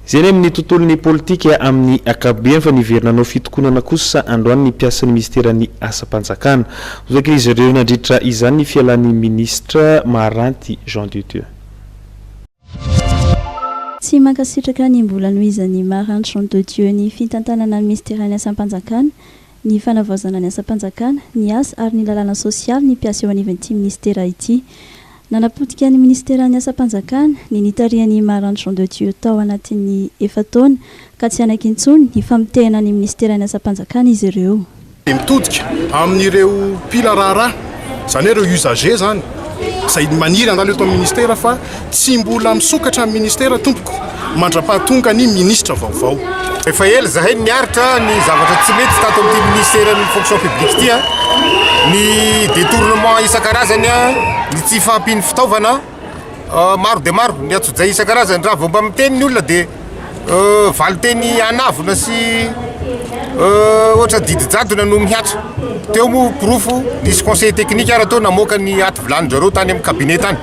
Izay ny amin'ny tontolon'ny politika amin'ny ankapobeny fa niverina hanao fitokonana kosa androany ny mpiasan'ny minisiteran'ny asam-panjakana. Hotakin'izy ireo nandritra izany ny fialan'ny minisitra Maharanty Jean de Dieu. Tsy mankasitraka ny mbola nohizan'i Maharanty Jean de Dieu ny fitantanana ny minisiteran'ny asam-panjakana, ny fanavaozana ny asam-panjakana, ny asa ary ny lalàna sosialy ny mpiasa eo anivon'ity minisitera ity. Nanapotika ny Minisiteran'ny Asam-panjakana ny nitarihan'i Imar Antson de Dieu tao anatin'ny efa-taona ka tsy hanaiky intsony hifamotehana ny Minisiteran'ny Asam-panjakana izy ireo. dia mitodika amin'ireo mpila raharaha, izany hoe ireo usagers izany, izay maniry handalo eto amin'ny Minisitera fa tsy mbola misokatra amin'ny Minisitera tompoko. mandra-pahatonga ny minisitra vaovao. Efa ela izahay no niaritra ny zavatra tsy mety tato amin'ity minisiteran'ny Fonction publique ity, ny detournement isan-karazany, ny tsy fahampian'ny fitaovana, maro dia maro ny antsojay isan-karazany. Raha vao mba miteny ny olona dia valin-teny anavona sy ohatra didy jadona no mihatra. Teo moa porofo, nisy conseiller technique ara-teo namoaka ny aty vilany-dry zareo tany amin'ny cabinet tany.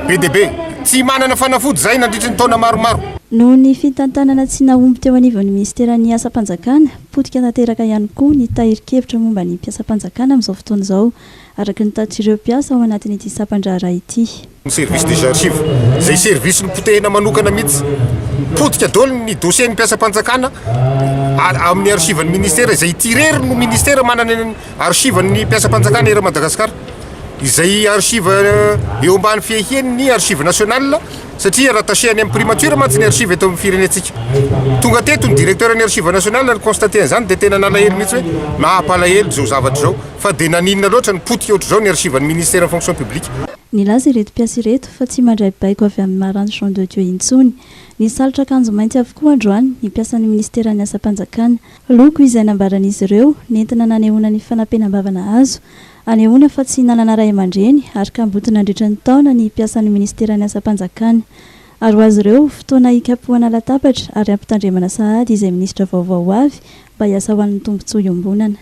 be dia be, tsy manana fanafody izay nandritry ny taona maromaro. Noho ny fitantanana tsy nahomby teo anivon'ny minisiteran'ny asam-panjakana, potika tanteraka ihany koa ny tahirin-kevitra momba ny mpiasam-panjakana amin'izao fotoana izao, araka ny tatr'ireo mpiasa ao anatin'ity sampan-draharaha ity. Ny Service des Archives, izay servisy nopotehina manokana mihitsy. Potika daholo ny dosien'ny mpiasam-panjakana amin'ny archivan'ny minisitera, izay ity irery no minisitera manana ny archivan'ny mpiasam-panjakana eran'i Madagasikara. izay archive eo ambany fiahian' ny Archive National satria rattaché any amin' ny Primature mantsy ny archive eto amin' ny firenentsika. Tonga teto ny Directeur ny Archive National ary ni-constater an' izany dia tena nalahelo mihitsy hoe naha-mpalahelo izao zavatra izao fa dia naninona loatra ny potika ohatr'izao ny Archive ny Ministère ny Fonction Publique. Nilaza ireto mpiasa ireto fa tsy mandray baiko avy amin'ny Marange Jean de Dieu intsony. Nisalotra akanjo mainty avokoa androany ny mpiasan'ny Ministera ny Asam-panjakana. Loko izay nambaran'izy ireo nentina nanehoana ny fanapenam-bava nahazo Anehoana fa tsy nanana ray aman-dreny ary kamboty nandritra ny taona ny mpiasan'ny Ministeran'ny Asam-panjakana. Ary ho azy ireo, fotoana hikapohana latabatra ary hampitandremana sahady izay minisitra vaovao ho avy mba hiasa ho an'ny tombontsoa iombonana.